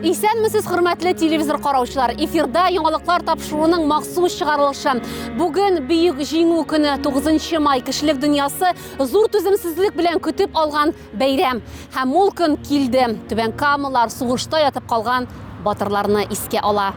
Исәнмесез, хөрмәтле телевизор караучылар. Эфирда яңалыклар тапшыруының махсус чыгарылышы. Бүген бөек җиңү көне 9 май кешелек дөньясы зур түземсезлек белән көтеп алган бәйрәм. Һәм ул көн килде. Түбән Камалар сугышта ятып калган батырларны искә ала.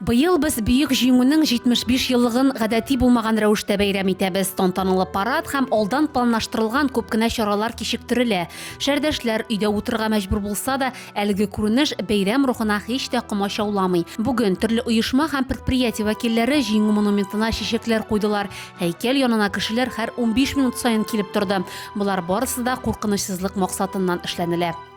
Быел без Бөек Җиңүнең 75 еллыгын гадәти булмаган рәвештә бәйрәм итәбез. Тантаналы парад һәм алдан планлаштырылган күп кенә чаралар кичектерелә. Шәрдәшләр өйдә утырырга мәҗбүр булса да, әлеге күренеш бәйрәм рухына һич тә комачауламый. Бүген төрле оешма һәм предприятие вәкилләре Җиңү монументына чәчәкләр куйдылар, һәйкәл янына кешеләр һәр унбиш минут саен килеп торды. Болар барысы да куркынычсызлык максатыннан эшләнелә.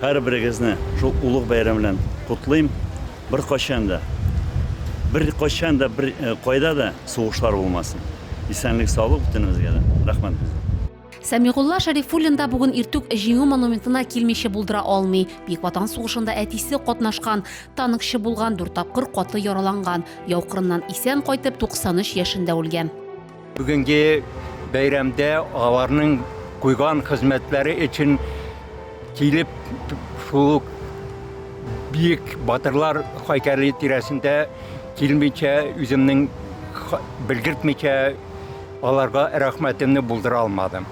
Һәрберегезне шул улуг бәйрәм белән котлыйм. Беркайчан да, беркайчан да, бер кайда да сугышлар булмасын. Исәнлек, саулык бөтенебезгә дә. Рәхмәт бездән. Сәмигулла Шәрифуллин да бүген иртүк Җиңү монументына килмичә булдыра алмый. Бөек Ватан сугышында әтисе катнашкан, танкчы булган, дүрт тапкыр каты яраланган, яу кырыннан исән кайтып, 93 яшендә үлгән. Бүгенге бәйрәмдә аларның куйган хезмәтләре өчен килеп шул ук биек батырлар хайкәле тирәсендә килмичә, үземнең белгертмичә аларга рәхмәтемне булдыра алмадым.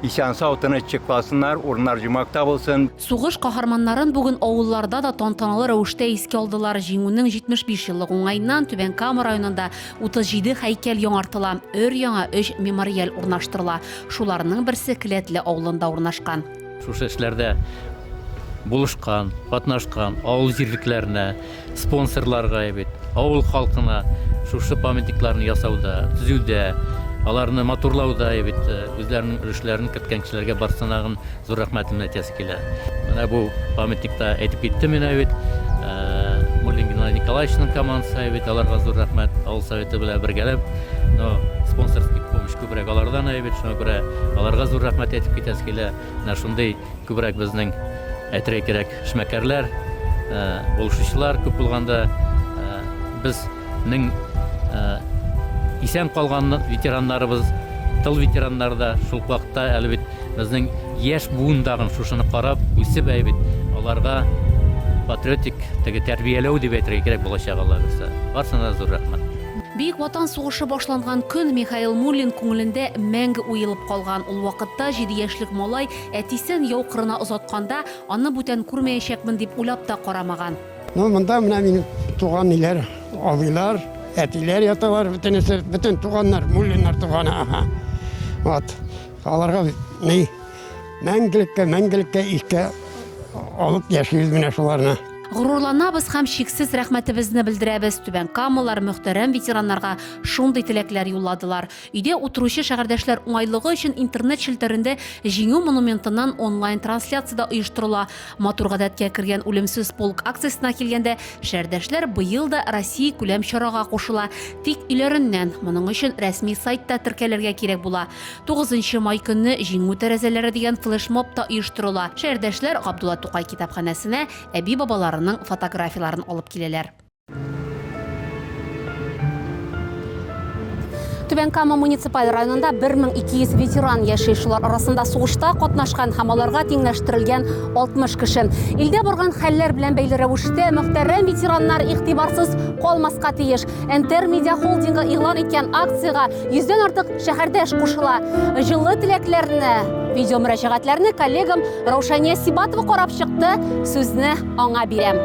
Исән-сау тыныч чыкласыннар, урыннар җумакта булсын. Сугыш каһарманнарын бүген авылларда да тантаналы рәвештә искә алдылар. Җиңүнең 75 еллык уңаеннан Түбән Кама районында 37 һәйкәл яңартыла, өр-яңа өч мемориаль урнаштырыла. Шуларның берсе Келәтле авылында урнашкан. Шушы эшләрдә булышкан, катнашкан авыл җирлекләренә, Спонсорлар гая бит, авыл халкына шушы памятникларны ясауда, төзүдә, аларны матурлауда гая бит үзләренең өлешләрен керткән кешеләргә барсынагын зур рәхмәтемне әйтәсе килә. Менә бу памятникта әйтеп киттем мин гая бит, Муллин Геннадий Николаевичның командасы гая бит, аларга зур рәхмәт, авыл Советы белән бергәләп, но спонсорский помощь күбрәк алардан гая бит, шуңа күрә аларга зур рәхмәт әйтеп китәсе килә. Менә шундый Күбрәк безнең әйтергә кирәк эшмәкәрләр, булышучылар күп булганда безнең исән калган ветераннарыбыз, тыл ветераннары да шул ук вакытта әле бит безнең яшь буын тагын шушыны карап, үсеп әле бит аларга патриотик теге тәрбияләү дип әйтергә кирәк балачак аллабирса. Барсына да зур рәхмәт. Бөек Ватан сугышы башланган көн Михаил Муллин күңелендә мәңге уелып калган. Ул вакытта җиде яшьлек малай әтисен яу кырына озатканда, аны бүтән күрмәячәкмен дип уйлап та карамаган. Ну, монда менә минем туган ниләр, абыйлар, әтиләр яталар, бөтенесе, бөтен туганнар, Муллиннар туганы, аһа. Вот. Аларга ни мәңгелеккә, мәңгелеккә искә алып яшибез менә шуларны. Горурланабыз һәм чиксез рәхмәтебезне белдерәбез. Түбән Камалар мөхтәрәм ветераннарга шундый теләкләр юлладылар. Өйдә утыручы шәһәрдәшләр уңайлыгы өчен интернет челтәрендә Җиңү монументыннан онлайн трансляция дә оештырыла. Матур гадәткә кергән Үлемсез полк акциясенә килгәндә, шәһәрдәшләр быел да Россия күләм чарага кушыла. Тик өйләреннән. Моның өчен рәсми сайтта теркәлергә кирәк була. Тугызынчы май көнне Җиңү тәрәзәләре дигән флешмоб та оештырыла. Шәһәрдәшләр Габдулла Тукай китапханәсенә әби-бабаларының фотографияләрен алып киләләр. Түбән Кама муниципаль районында 1200 ветеран яши. Шулар арасында сугышта катнашкан һәм аларга тиңләштерелгән 60 кеше. Илдә барган хәлләр белән бәйле рәвештә мөхтәрәм ветераннар игътибарсыз калмаска тиеш. Энтер медиа холдингы игълан иткән акциягә йөздән артык шәһәрдәш кушыла. Җылы теләкләрне, видео мөрәҗәгатьләрне коллегам Раушания Сибатова карап чыкты, сүзне аңа бирәм.